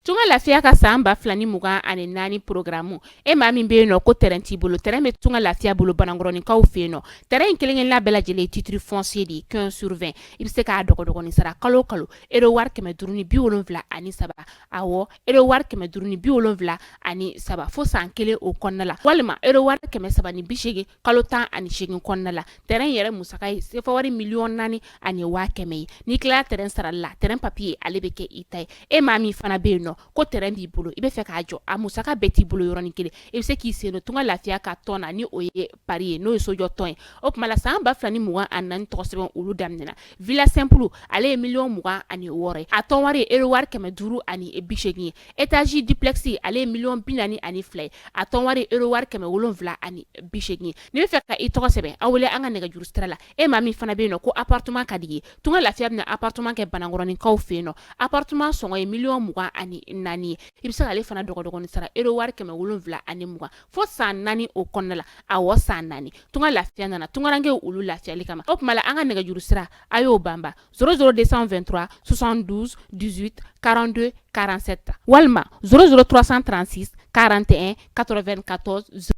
Tunga lafiya ka san ba fila ni mugan ani naani porogramu e maa min bɛ yen nɔ ko terrain t'i bolo terrain bɛ tunga lafiya bolo banankɔrɔninkaw fɛ yen nɔ terrain in kelenkelenna bɛɛ lajɛlen titre foncier de ye quinze sur vingt i bɛ se k'a dɔgɔdɔgɔnin sara kalo kalo euro wari kɛmɛ duuru ni bi wolonwula ani saba awɔ euro wari kɛmɛ duuru ni bi wolonwula ani saba fo san kelen o kɔnɔna la walima euro wari kɛmɛ saba ni bisegin kalo tan ani segin kɔnɔna la terrain yɛrɛ musaka ye sefa wari miliyɔn naani ani waa kɛmɛ ye n'i tilala terrain sara la terrain papier ale bɛ kɛ i ta ye e maa min fana bɛ yen nɔ ko terrain b'i bolo i bɛ fɛ k'a jɔ a musaka bɛɛ t'i bolo yɔrɔnin kelen i bɛ se k'i sen don tunga lafiya ka tɔn na ni o ye pari ye n'o ye sojɔ tɔn ye o tuma la san ba fila ni mugan ani naani tɔgɔ sɛbɛn olu daminɛna villa simple ale ye miliyɔn mugan ani wɔɔrɔ a tɔn wari euro wari kɛmɛ duuru ani bisegin ye étage duplex ale ye miliyɔn bi naani ani fila ye a tɔn wari euro wari kɛmɛ wolonwula ani bisegin ye n'i bɛ fɛ ka i tɔgɔ sɛbɛn a wele an ka nɛgɛjuru sira la e maa min fana bɛ yen nɔ ko appartement ka di i ye tunga lafiya bɛna appartement kɛ banankɔrɔninkaw fɛ yen nɔ appartement sɔngɔ ye miliyɔn mugan ani naani ye i bɛ se k'ale fana dɔgɔdɔgɔnin sara euro wari kɛmɛ wolonwula ani mugan fo san naani o kɔnɔna la a wa san naani tun ka lafiya nana tunkarakarankɛ olu lafiyali kama o tuma an ka nɛgɛjuru sira a y'o banba szouru de sanfɛ2 sonsan duuru karante karansɛ ta walima sroursan transi karante katɔ2 katɔ s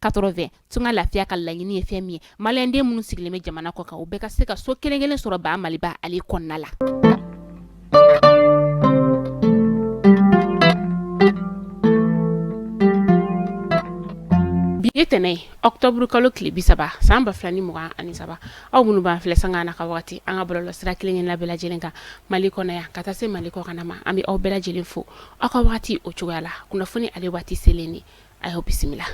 katorofɛ tun ka lafiya ka laɲiniini ye fɛn min ye maliyɛnden minnu sigilen bɛ jamana kɔ kan u bɛɛ ka se ka so kelenkelen sɔrɔ ba maliba ale kɔnɔna la bi ye tɛnɛn ye octobre kalo tile bi saba san ba fila ni mugan ani saba aw minnu b'an filɛ sanga na ka wagati an ka bɔlɔlɔ sira kelen kelenna bɛɛ lajɛlen kan mali kɔnɔ yan ka taa se mali kɔkanna ma an bɛ aw bɛɛ lajɛlen fo aw ka wagati o cogoya la kunnafoni ale waati selen de a y'o bisimila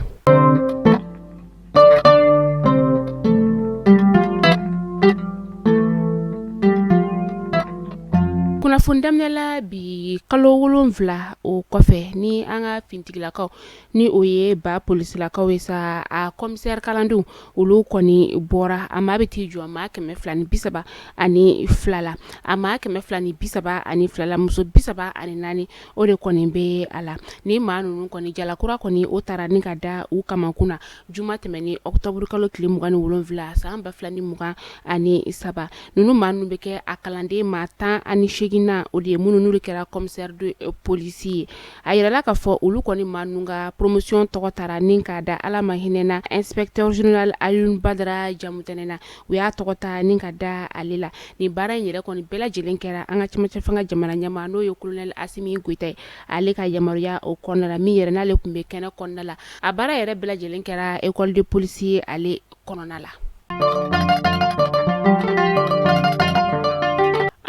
kunnafoni daminɛla bi kalo wolonwula o kɔfɛ ni an ka finitigilakaw ni o ye ba polisilakaw ye sa a commissaire kalandenw olu kɔni bɔra a maa bɛ t'i jɔ a maa kɛmɛ fila ni bisaba ani fila la a maa kɛmɛ fila ni bisaba ani fila la muso bisaba ani naani o de kɔni bɛ a la ni maa ninnu kɔni jalakura kɔni o taara ni ka da u kamakun na juma tɛmɛnen octobre kalo tile mugan ni wolonwula san ba fila ni mugan ani saba ninnu maa ninnu bɛ kɛ a kalanden maa tan ani segin na o de ye minnu ninnu de kɛra commissaire de police ye a yirala k'a fɔ olu kɔni maa ninnu ka poromosiyon tɔgɔ taara ni ka da ala ma hinɛna inspecteur général Alioune Badara Jamutɛnɛ na u y'a tɔgɔ ta ni ka da ale la nin baara in yɛrɛ kɔni bɛɛ lajɛlen kɛra an ka cɛmancɛ fanga jamana ɲɛmaa n'o ye kolonɛli Asimi Goyita ye ale ka yamaruya o kɔnɔna la min yɛrɛ n'ale tun bɛ kɛnɛ kɔnɔna la a baara yɛrɛ bɛɛ lajɛlen kɛra ekɔli de polisi ye ale kɔnɔna la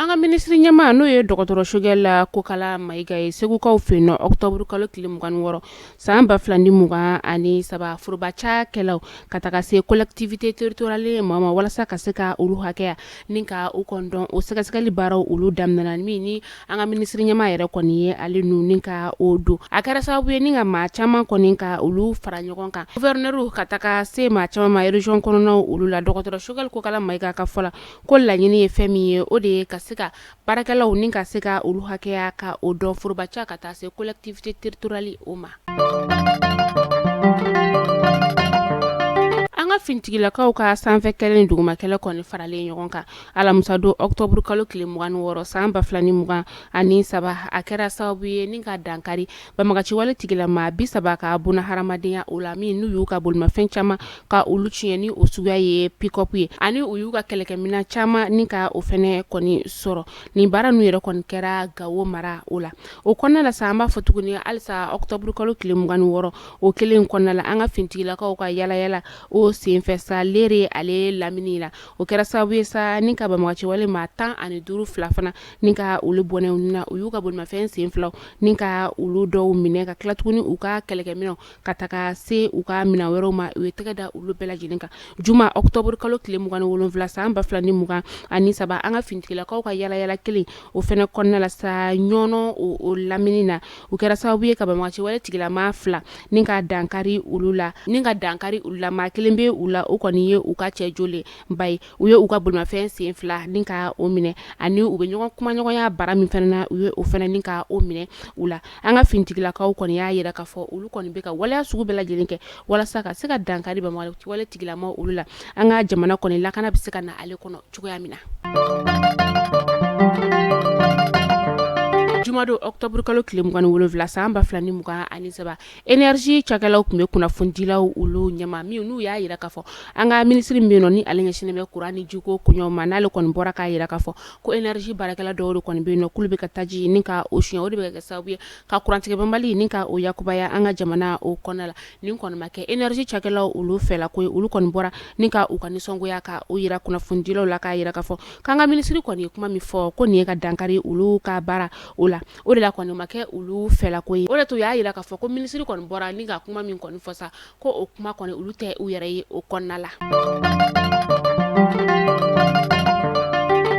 an ka minisiri ɲɛmaa n'o ye dɔgɔtɔrɔ Sogɛli Kokala Mayiga ye segukaw fɛ yen nɔ octobre kalo tile mugan ni wɔɔrɔ San ba fila ni mugan ani saba foroba cakɛlaw ka taga se collectivité territoriale ma ma walasa ka se ka olu hakɛya ni ka o kɔni dɔn o sɛgɛsɛgɛli baaraw olu daminɛna min ni an ka minisiri ɲɛmaa yɛrɛ kɔni ye ale nun ni ka o don a kɛra sababu ye ni ka maa caman kɔni ka olu fara ɲɔgɔn kan gouverneur ka taga se maa caman ma région kɔnɔnaw olu la dɔgɔtɔrɔ Sogɛli Kokala Mayiga ka fɔ la ko laɲini ye fɛn min ye o de ye ka se ka baarakɛlaw ni ka se ka olu hakɛya ka o dɔn foroba ca ka taa se collectivité territoriale o ma an ka finitigilakaw ka sanfɛ kɛlɛ ni duguma kɛlɛ kɔni faralen ɲɔgɔn kan alamisadon octobre kalo tile mugan ni wɔɔrɔ san ba fila ni mugan ani saba a kɛra sababu ye ni ka dankari Banbagaci wale tigilama bi saba ka bɔnɛ hadamadenya o la min n'u y'u ka bolimafɛn caman ka olu tiɲɛn ni o suguya ye pick-up ye ani u y'u ka kɛlɛkɛminɛn caman ni ka o fana kɔni sɔrɔ nin baara ninnu yɛrɛ kɔni kɛra gawo mara o la o kɔnɔna la sa an b'a fɔ tuguni halisa octobre kalo tile mugan ni wɔɔrɔ o kelen kɔnɔna la an ka finitigilakaw ka yaalayaala o senfɛ sa Lere ale lamini la o kɛra sababu ye sa ni ka banbagaci wale maa tan ani duuru fila fana ni ka olu bɔnɛ u ni na u y'u ka bolimafɛn sen filaw ni ka olu dɔw minɛ ka tila tuguni u ka kɛlɛkɛminɛnw ka taga se u ka minɛn wɛrɛw ma u ye tɛgɛ da olu bɛɛ lajɛlen kan juma octobre kalo tile mugan ni wolonwula san ba fila ni mugan ani saba an ka finitigilakaw ka yaalayaala kelen o fana kɔnɔna la sa ɲɔnɔ o lamini na u kɛra sababu ye ka banbagaci wale tigilama fila ni ka dankari olu la ni ka dankari olu la maa kelen bɛ u la o kɔni ye u ka cɛ jole ba ye u ye u ka bolimafɛn sen fila ni ka o minɛ ani u bɛ ɲɔgɔn kumaɲɔgɔnya bara min fana na u ye o fana ni ka o minɛ u la an ka finitigilakaw kɔni y'a jira k'a fɔ olu kɔni bɛ ka waleya sugu bɛɛ lajɛlen kɛ walasa ka se ka dankari banbagaci wale tigilama olu la an ka jamana kɔni lakana bɛ se ka na ale kɔnɔ cogoya min na jumadon octobre kalo tile mugan ni wolonwula san ba fila ni mugan ani saba Énergie cakɛlaw tun bɛ kunnafonidilaw olu ɲɛ ma min n'u y'a jira k'a fɔ an ka minisiri min bɛ ni ale ɲɛsinnen bɛ kuran ni jiko ko ma n'ale kɔni bɔra k'a jira k'a fɔ ko énergie baarakɛla dɔw kɔni bɛ yen k'olu bɛ ka taji ni ka o sonya o de bɛ kɛ sababu ye ka kurantigɛ banbali ni ka o yakubaya an ka jamana o kɔnɔna la nin kɔni ma kɛ énergie cakɛlaw olu fɛ ko olu kɔni bɔra ni ka u ka nisɔngoya ka o jira kunnafonidilaw la k'a jira k'a fɔ k'an ka minisiri kɔni ye kuma min fɔ ko nin ye ka dankari olu ka baara o la o de la kɔni ma kɛ olu fɛla ko ye o de to y'a jira k'a fɔ ko minisiri kɔni bɔra ni ka kuma min kɔni fɔ sa ko o kuma kɔni olu tɛ u yɛrɛ ye o kɔnɔna la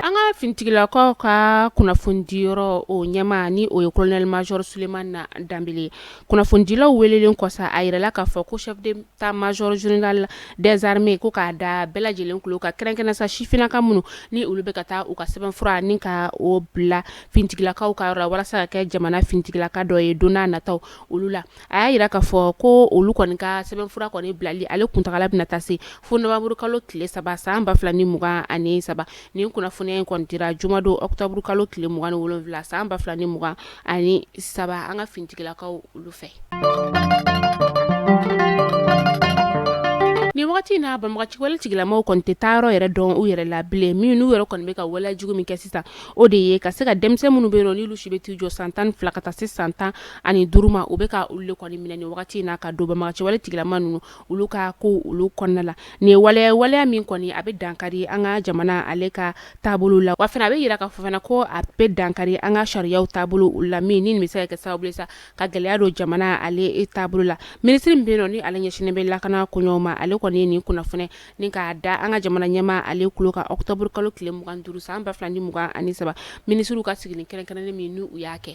an ka finitigilakaw ka kunnafonidi yɔrɔ o ɲɛmaa ni o ye colonel major souleymane dembélé kunnafonidilaw welelen kɔ sa a jirala k'a fɔ ko chef d'état major général des armées ko k'a da bɛɛ lajɛlen tulo kan kɛrɛnkɛrɛnnen sa sifinnaka minnu ni olu bɛ ka taa u ka sɛbɛnfura ni ka o bila finitigilakaw ka yɔrɔ la walasa ka kɛ jamana finitigilaka dɔ ye don nataw olu la a y'a jira k'a fɔ ko olu kɔni ka sɛbɛnfura kɔni bilali ale kuntaala bɛna taa se fo novembre kalo tile saba san ba fila ni mugan ani saba nin kunnafoniya in kɔni dira jumadon octobre kalo tile mugan ni wolonwula san ba fila ni mugan ani saba an ka finitigilakaw olu fɛ nin wagati in na banbaganciwale tigilamaw kɔni tɛ taa yɔrɔ yɛrɛ dɔn u yɛrɛ la bilen min n'u yɛrɛ kɔni bɛ ka waleya jugu min kɛ sisan o de ye ka se ka denmisɛn minnu bɛ yen nɔ n'olu si bɛ t'i jɔ san tan fila ka taa se san tan ani duuru ma u bɛ ka olu le kɔni minɛ nin wagati na ka don banbaganciwale tigilama ninnu olu ka ko olu kɔnɔna la nin ye waleya min kɔni a bɛ dankari an ka jamana ale ka taabolo la wa fana a bɛ jira k'a fɔ fana ko a bɛ dankari an ka sariyaw taabolo olu la min ni nin bɛ se ka kɛ sababu ye sa ka gɛlɛya don jamana ale taabolo la minisiri min bɛ yen nɔ ni ale ɲɛsinnen bɛ lakana koɲɛw ma ale kɔni ye nin kunnafoni ni k'a da an ka jamana ɲɛmaa ale tulo kan octobre kalo tile 25 san 2023 minisiriw ka sigili kɛrɛnkɛrɛnnen min n'u y'a kɛ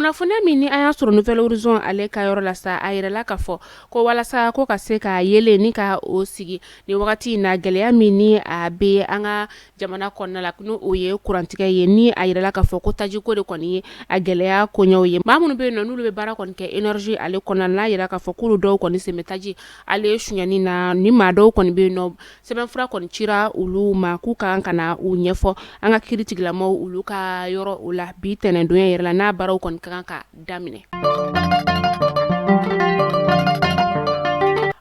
kunnafoniya min ni an y'a sɔrɔ nouvelle horizon ale ka yɔrɔ la sa a jirala k'a fɔ ko walasa ko ka se ka yeelen ni ka o sigi nin wagati in na gɛlɛya min ni a bɛ an ka jamana kɔnɔna la n'o ye kurantigɛ ye ni a jirala k'a fɔ ko tajiko de kɔni ye a gɛlɛya koɲɛw ye maa minnu bɛ yen nɔ n'olu bɛ baara kɔni kɛ énergie ale kɔnɔna la n'a jira k'a fɔ k'olu dɔw kɔni sen bɛ taji ale sonyani na ni maa dɔw kɔni bɛ yen nɔ sɛbɛnfura kɔni cira olu ma k'u ka kan ka na u ɲɛfɔ an ka kiiritigilamaw olu ka yɔrɔ o la bi tɛnɛndon yɛrɛ la n'a baaraw kɔni ka kan ka daminɛ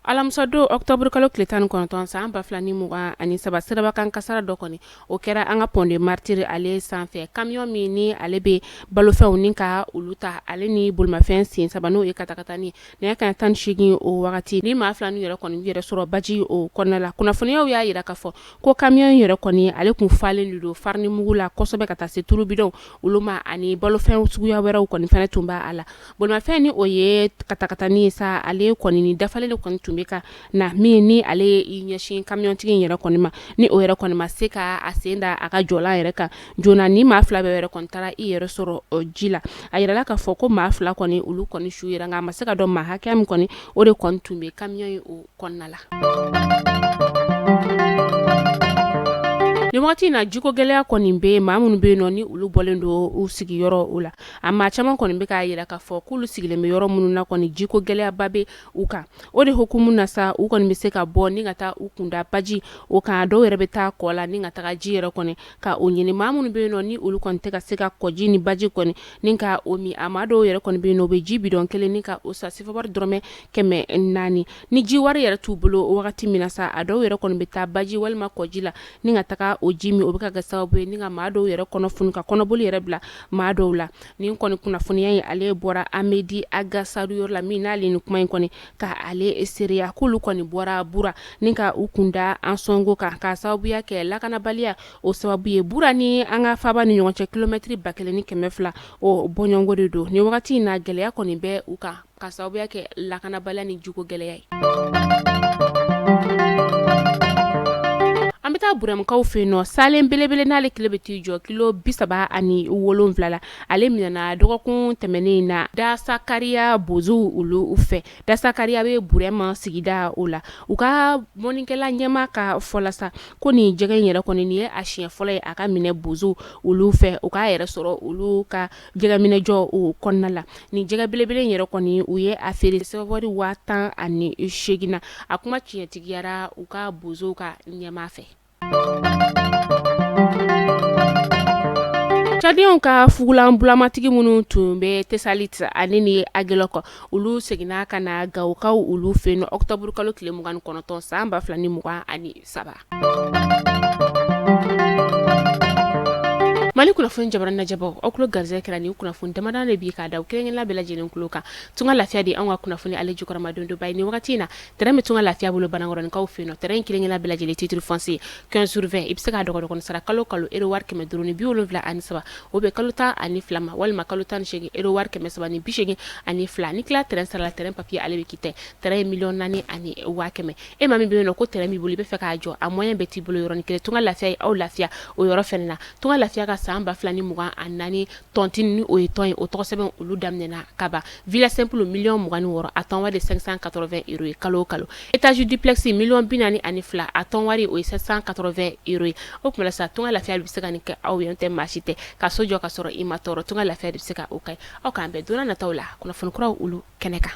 alamisadon octobre kalo tile 19 san 2020 ani saba sirabakan kasara dɔ kɔni o kɛra an ka pont des martyrs ale sanfɛ camion min ni ale bɛ balofɛnw ni ka olu ta ale ni bolimafɛn sen saba n'o ye katakatani nɛgɛ kanɲɛ 18 o wagati ni maa fila ninnu yɛrɛ kɔni yɛrɛ sɔrɔ baji o kɔnɔna la kunnafoniyaw y'a jira k'a fɔ ko camion in yɛrɛ kɔni ale tun falen de don farinimugu la kosɛbɛ ka taa se tulu bidɔnw olu ma ani balofɛn suguya wɛrɛw kɔni fana tun b'a la bolimafɛn ni o ye katakatani ye sa ale kɔni ni dafalen de kɔni tun bɛ ka na min ni ale y'i ɲɛsin camiontigi in yɛrɛ kɔni ma ni o yɛrɛ kɔni ma se ka a sen da a ka jɔlan yɛrɛ kan joona ni maa fila bɛɛ yɛrɛ kɔni taara i yɛrɛ sɔrɔ ji la a jirala k'a fɔ ko maa fila kɔni olu kɔni su yera nka a ma se ka dɔn maa hakɛya min kɔni o de kɔni tun bɛ camion in kɔnɔna la nin wagati in na jiko gɛlɛya kɔni bɛ maa minnu bɛ yen nɔ ni olu bɔlen don u sigiyɔrɔ o la a maa caman kɔni bɛ k'a yira k'a fɔ k'olu sigilen bɛ yɔrɔ minnu na kɔni jiko gɛlɛyaba bɛ u kan o de hukumu na sa u kɔni bɛ se ka bɔ ni ka taa u kun da baji o kan dɔw yɛrɛ bɛ taa kɔ la ni ka taga ji yɛrɛ kɔni ka o ɲini maa minnu bɛ yen nɔ ni olu kɔni tɛ ka se ka kɔji ni baji kɔni ni ka o min a maa dɔw yɛrɛ kɔni bɛ yen nɔ o bɛ ji bidɔn kelen ni ka o san sefawari dɔrɔmɛ kɛmɛ naani ni ji wari yɛrɛ t'u bolo wagati min na sa a dɔw yɛrɛ kɔni bɛ taa baji walima kɔji la ni ka taga o ji min o bɛ ka kɛ sababu ye ni ka maa dɔw yɛrɛ kɔnɔ funu ka kɔnɔboli yɛrɛ bila maa dɔw la ni kɔni kunnafoniya in ale bɔra Amɛdi Agasaru yɔrɔ la min n'ale ni kuma in kɔni ka ale seereya k'olu kɔni bɔra bura ni ka u kun da Ansɔngo kan ka sababuya kɛ lakanabaliya o sababu ye bura ni an ka faaba ni ɲɔgɔn cɛ kilomɛtɛrɛ ba kelen ni kɛmɛ fila o bɔɲɔgɔnko de don nin wagati in na gɛlɛya kɔni bɛ u kan ka sababuya kɛ lakanabaliya ni jiko gɛlɛya ye an bɛ taa Burɛmukaw fɛ yen nɔ salen belebele n'ale kilo bɛ t'i jɔ kilo bi saba ani wolonwula la ale minɛna dɔgɔkun tɛmɛnen in na Dasakariya bozow olu fɛ Dasakariya bɛ Burɛmu sigida o la u ka mɔnikɛla ɲɛmaa ka fɔ la sa ko nin jɛgɛ in yɛrɛ kɔni nin ye a siɲɛ fɔlɔ ye a ka minɛ bozow olu fɛ u k'a yɛrɛ sɔrɔ olu ka jɛgɛminɛjɔ o kɔnɔna la nin jɛgɛ belebele in yɛrɛ kɔni u ye a feere sefawari waa tan ani segin na a kuma tiɲɛtigiyara u ka bozow ka ɲɛmaa fɛ Cadiyɛnw ka fugulan bulamatigi minnu tun bɛ Tesaliti ani ni Agelɔkɔ olu seginna ka na gawokaw olu fɛ yen nɔ ɔkutɔburukalo tile mugan ni kɔnɔntɔn san ba fila ni mugan ani saba mali kunnafoni jabaranin lajɛbaaw aw tulo garizɛgɛ kɛra nin kunnafoni damadɔ de bi k'a d'aw kelen kelenna bɛɛ lajɛlen tulo kan tunga lafiya de ye an ka kunnafoni ale jukɔrɔmadonbaa ye nin wagati in na Tɛrɛn bɛ tunga lafiya bolo banankɔrɔninkaw fɛ yen nɔ tɛrɛn in kelen-kelen na bɛɛ lajɛlen titre foncier quinze sur vingt i bɛ se k'a dɔgɔdɔgɔnin sara kalo kalo ero wari kɛmɛ duuru ni bi wolonwula ani saba o bɛ kalo tan ani fila ma walima kalo tan ni segin ero wari kɛmɛ saba ni bisegin ani fila n'i tila tɛrɛn sara la tɛrɛn papiye ale bɛ ki tɛ tɛrɛn ye miliyɔn naani ani waa kɛmɛ e maa min bɛ yen nɔ ko tɛrɛn b'i bolo i bɛ fɛ k'a jɔ a moyen bɛɛ t'i bolo yɔrɔnin kelen tunga lafiya y'aw lafiya o yɔrɔ fana na tunga lafiya ka san ba fila ni mugan ani naani tɔntini o ye tɔn ye o tɔgɔ sɛbɛn olu daminɛna kaban villa simple miliyɔn mugan ni wɔɔrɔ a tɔn wari ye cinq cent quatre-vingts euros ye kalo kalo étage duplex miliyɔn bi naani ani fila a tɔn wari o ye sept cent quatre-vingts euros ye o tuma la sa tunga lafiya bɛ se ka nin kɛ aw ye tɛ maa si tɛ ka so jɔ ka sɔrɔ i ma tɔɔrɔ tunga lafiya de bɛ se ka o kɛ aw k'an bɛn don nataw la kunnafoni kuraw olu kɛnɛ kan